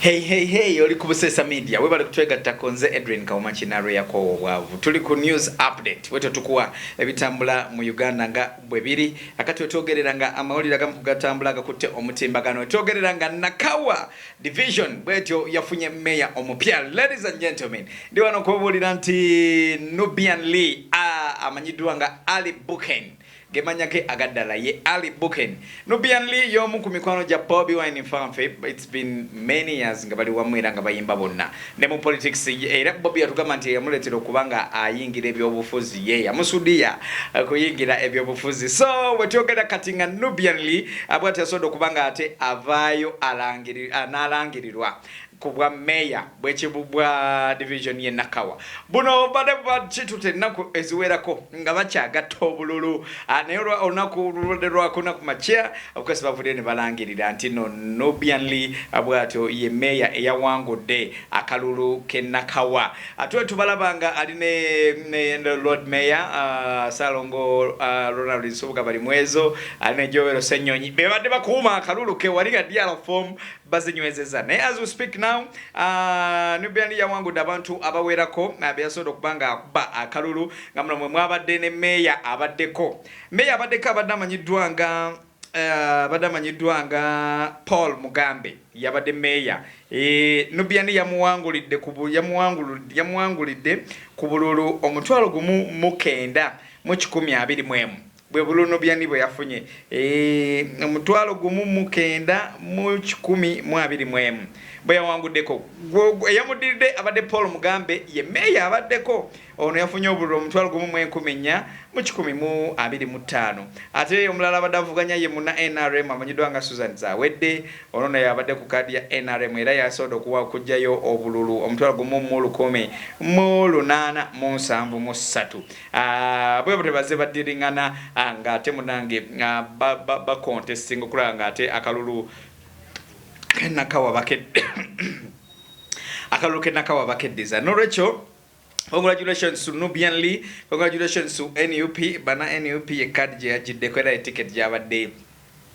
Hey, hey, hey, oli ku Buseesa Media webale kutwegattako nze Edwin Kawuma Kinaalwe yakoowa obwavu tuli ku news update wetwe tukuwa ebitambula mu Uganda nga bwe biri akati wetwogerera nga amawulire agamu kugatambula agakutte omutimbagano wetwogerera nga Nakawa division bwetyo yafunye meya omupya ladies and gentlemen ndi wano kubabuulira nti Nubian Lee ah, amanyiddwa nga Ali Buken Gemanya ge agaddala ye Ali Buken. Nubian Li y'omu ku mikwano gya Bobi Wine Nfanfe. It's been many years nga bali wamu era nga bayimba bonna. Ne mu politics era Bobi yatugamba nti eyamuleetera okuba nga ayingira ebyobufuzi ye yamusudiya kuyingira ebyobufuzi. So we twogera kati nga Nubian Li bwati yasobodde okuba nga ate avaayo n'alangirirwa. ku bwa Meeya bwe kibubwa Division ye Nakawa. Buno bubadde bukitute ennaku eziwerako nga bakyagatta obululu ah, naye olunaku lubadde lwakuna ku makya abakozi bavuddeyo ne balangirira nti no Nubian Li ah, bwatyo ye Meeya eyawangudde akalulu ke Nakawa. Ate ah, tubalaba nga ali ne, ne, ne Lord Mayor uh, Salongo uh, Ronald Nsubuga Balimwezo ali ne Joel Senyonyi bebadde bakuuma akalulu ke wali nga DRFOM bazinywezeza naye as we speak now uh, Nubian Li yawangudde abantu abawerako uh, beyasobola okuba nga akuba akalulu nga muno mwe mwabadde ne meeya abaddeko meeya abaddeko abadde amanyiddwa nga uh, abadde amanyiddwa nga Paul Mugambe yabadde meeya e, Nubian Li yamuwangulidde yamuwangulidde ku bululu omutwalo gumu mukenda mu kikumi abiri mwemu Bwe Bulunubyani bwe yafunye eeh, omutwalo gumu mu kenda mu kikumi mu abiri mu emu bwe yawanguddeko gwo, eyamuddiridde abadde Paul Mugambe, ye Meeya abaddeko, ono yafunye obululu omutwalo gumu mu enkumi nnya mu kikumi mu abiri mu ttaano ate omulala abadde avuganya ye munna nrm amanyiddwa nga Susan Zawedde, ono naye abadde ku kaadi ya nrm era yasobodde okuwa okuggyayo obululu omutwalo gumu mu lukumi mu lunaana mu nsanvu mu ssatu. Ah, bwebutyo bazze baddiring'ana ah, ng'ate munange ah, bakontestinga okulaba ng'ate akalulu kenakawa bakedde akalulu kenakawa bakeddiza nolwekyo congratulations to nubian lee congratulations to nup bana nup ye card gye yagiddeko era eticket gyabadde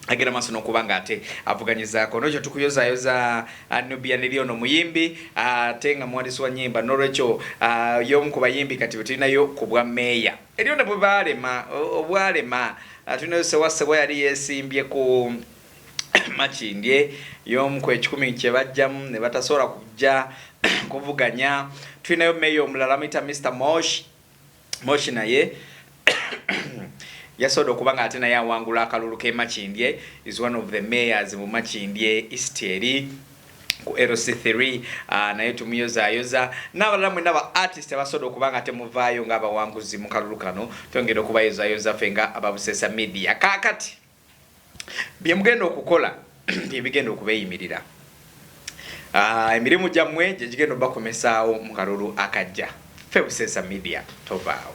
agenda maaso n'okuba nga ate avuganyizaako nolwekyo tukuyozayoza uh, nubia neri ono muyimbi uh, ate nga muwandiisi wa nyimba nolwekyo uh, yomu ku bayimbi kati betulinayo ku bwa meeya eriyo ne bwebalema obwalema tulinayo sewasebwa yali yesimbye ku makindye yomu ku ekikumi kyebajjamu ne batasobola kujja kuvuganya tulinayo meeya omulala muyita mr mosh Moshi naye yasoda okuba nga ate naye awangula akalulu ke Makindye is one of the mayors mu Makindye East eri ku LC3 ah, naye tumuyozayoza n'abalala mwena ba artist abasoda okuba nga temuvaayo ng'abawanguzi mu kalulu kano twongera okubayozayoza fe nga ababusesa media kakati bye mugenda okukola bye bigenda okubeeyimirira. Ah, emirimu gyammwe gye gigenda obakomesaawo mu kalulu akajja. Ffe Buseesa Media tovaawo.